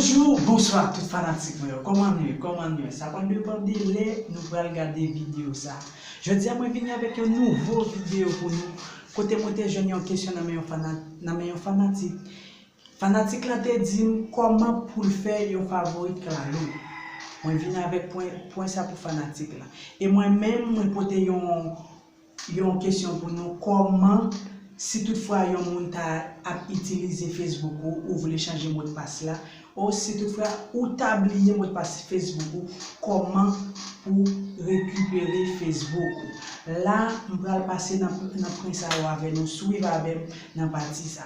Bonjour, bonsoir tout fanatik mwen yo, kòman nou ye, kòman nou ye, sa pa depan de lè nou pral gade video sa. Jodi a mwen vini avèk yon nouvo video pou nou, kote mwen te jwenn yon kesyon nan men yon fanatik. Fanatik lan te dim kòman poul fè yon favorit clalo mwen vin avèk pwen pwen sa pou fanatik lan e mwen menm mwen pote yon yon kesyon pou nou kòman si tout fwa yon moun ta ap itilize Facebook ou ou vle chanje modpas la ou si tout fwa ou ta bliye modpas Facebook ou kòman pou rekipere Facebook ou la m pral pase nan pwen sa yo avè nou swiv avèm nan pati sa.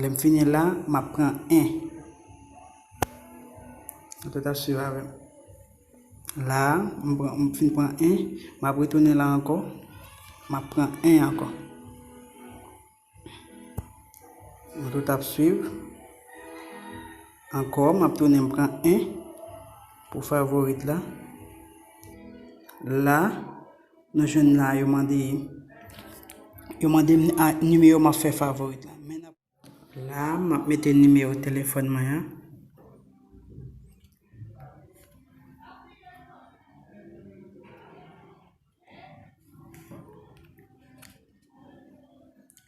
Lè m fini la, m ap pran 1. Petèt ap suiv avè m. La a, m pran, m fin pran 1, m ap retounen la ankò, m ap pran 1 ankò. Nou tout ap suiv. Ankò, m ap tounen m pran 1 pou favorit la. La. Nou jwenn la yo mande yo mande m nimewo map fè favorit la men nap. La map mete nimewo telefòn mwen an.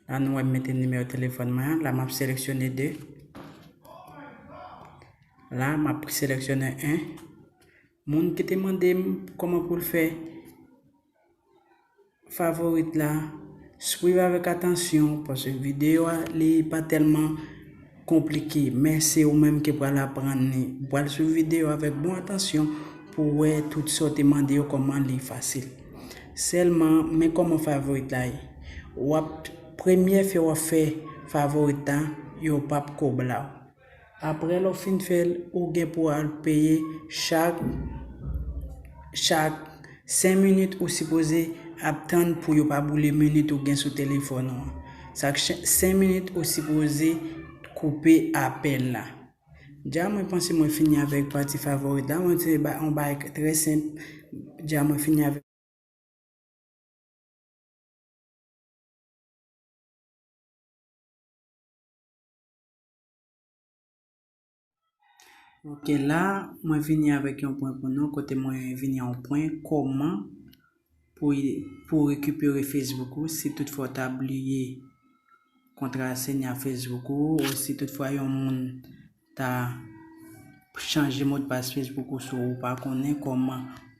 La nou wè m mete nimewo telefòn mwen an la map seleksyone 2. La map seleksyone 1. Moun ki te mande m koman pou l fè favorite la swiv avèk atansyon paske videyo a li pa tèlman konplike men se ou menm ki pral aprann li ou pral swiv videyo avèk bon atansyon pou w wè tout sa w te mande yo kòman li fasil sèlman men kòman favorite la ye wap premye fè wap fè favorite la yo pap ko ba w. Aprè lè w fin fè l, ou gen pou al peye chak chak 5 minit ou sipoze ap tann pou yo pa boule minit ou gen sou telefòn ou an. Chak 5 minit ou sipoze koupe apèl la. Dja mwen panse mwen fini avèk pati favorit la, mwen se yon bagay trè senp, dja mwen fini avèk. Ok la mwen vini avèk yon pwen pou nou kote mwen vini yon pwen kòman pou pou rekipere Facebook ou si tout fwa ta bliye kontra senya Facebook ou ou si tout fwa yon moun ta chanje modpas Facebook ou sou ou pa konnen kòman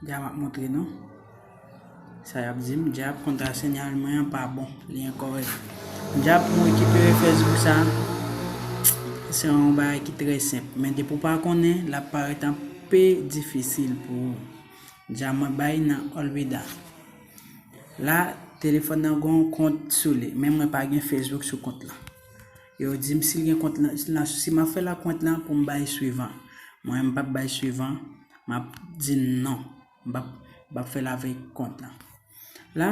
Dja map montre nou sa yap dim dja kontra senyal mwen an pa bon li enkorèk dja pou rekipere facebook sa se yon bagay ki trè senp men depi ou pa konnen lap parèt an pe difisil pou ou dja mwen bay nan olveda la telefòn nan gon kont sou li men mwen pa gen facebook sou kont lan yo dim si gen kont lan si map fèl ak kont lan poum bay swivan mwen m pap bay swivan. Map di non. Mbap mbap fèl avèk kont lan. La,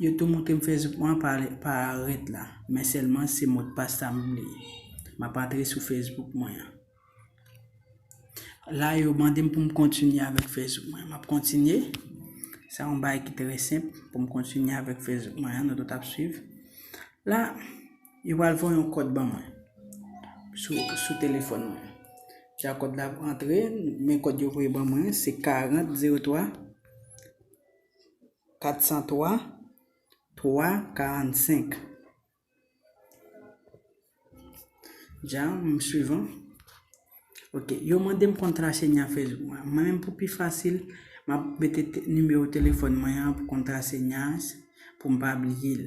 yo tou moutrem Facebook mwen pa ret la. Men sèlman se modpas la m bliye. Map antre sou Facebook mwen an. La yo mandem poum kontinye avèk Facebook mwen an. Map kontinye. Sa yon bagay ki trè senp poum kontinye avèk Facebook mwen an. Nou tout ap swiv. La. Yo pral voye yon kòd ban mwen sou telefòn mwen. Jan kòd la ap antre, men kòd yo voye ban mwen, se 4003 403 345. Jan m swiv an. Ok, yo mande m kontra se nyan Facebook mwen. Mwen menm pou pi fasil, m ap mete nimewo telefòn mwen an pou kontra se nyan pou m pa bliye l.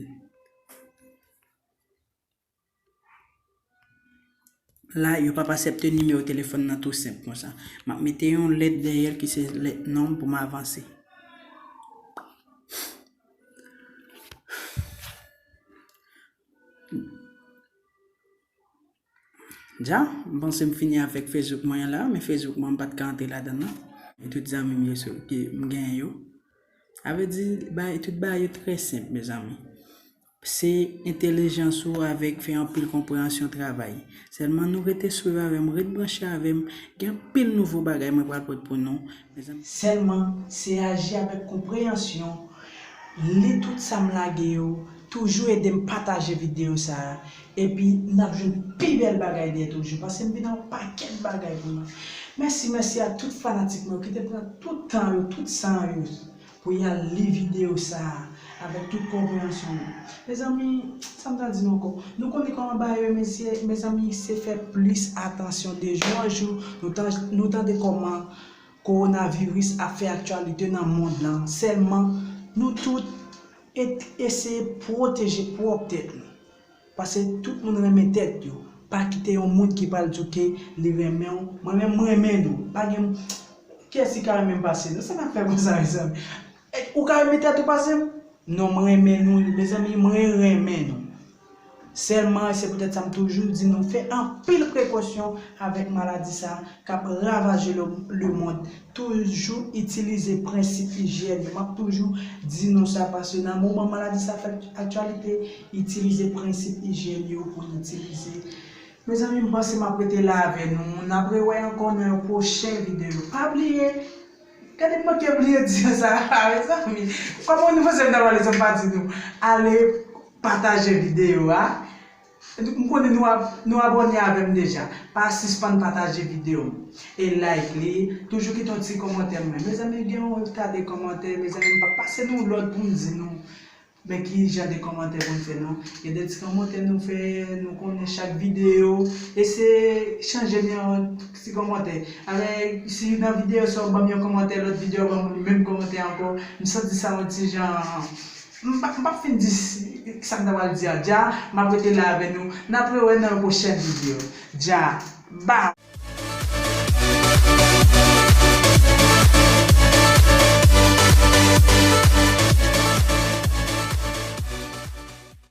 La yo pap asepte nimewo telefòn nan tou senp konsa. Map mete yon lèt dèyèl ki se lèt nonm pou m avanse. Dja, m panse m fini avèk Facebook mwen an la, men Facebook mwen m pat ka antre ladan l nan. E tout zanmi m yo sou ke m gen yo. A vre di, bagay, tout bagay yo trè senp mezanmi. Se entelijans ou avèk fè anpil konpreyansyon travay. Sèlman nou rete swiv avè m, ret branche avè m, gen anpil nouvo bagay mwen pral pot pou nou. Sèlman, se aji avèk konpreyansyon, li tout sa m lage yo, toujou ede m pataje videyo sa a, epi n ap jwenn pi bèl bagay dèyè toujou, pase m vin ak yon pakèt bagay pou nou. Mèsi, mèsi ak tout fanatik mwen yo ki te pran tout tan yo, tout san yo, Pou yal li video sa a avèk tout konpreyansyon nou. Mezanmi, sa m ta di nou ankò? Nou konnen kòman bagay yo ye mesye, mezanmi se fè plis atansyon de jou an jou, nou tande kòman kowonaviris ap fè aktyalite nan mond lan, sèlman nou tout eseye pwoteje pwòp tèt nou. Pase tout moun renmen tèt yo pa kite yon moun ki pral diw ke li renmenw mwen menm m renmen nou pa gen kiyès ki ka renmenm pase nou sa nap fè konsa mezanmi ou ka renmen tèt ou pasem non m renmen nou mezanmi mwen renmen nou sèlman se poutèt sa m toujou di nou fè anpil prekosyon avèk maladi sa kap ravaje lemond Toujou itilize prensip ijyèn. M ap toujou di nou sa paske nan moman maladi sa fè aktyalite, itilize prensip ijyèn yo pou n itilize. Mezanmi m panse m ap rete la avè nou. N ap rewè ankò nan yon pwochen videyo. Pa bliye, gade m manke bliye di nou sa a mezanmi. Kòman nou panse m ta pale san m pa di nou ale pataje videyo a. M konnen nou abòne avèm deja pa sispann pataje video m e like li toujou kite yon ti kòmantè mwen mezanmi gen yon ta de kòmantè mezanmi m pap pase nou lòd poum di nou men ki jan de kòmantè poun fè non gen de ti kòmantè nou fè nou konnen chak video eseye chanje m yon ti kòmantè alè si nan video sa ou banm yon kòmantè lòt video ou banm menm kòmantè ankò m santi sa yon ti jan. M pap fin di sa m ta pral di a dja, m ap rete la avè nou, n ap rewè nan yon pwochèn video. Dja, ba!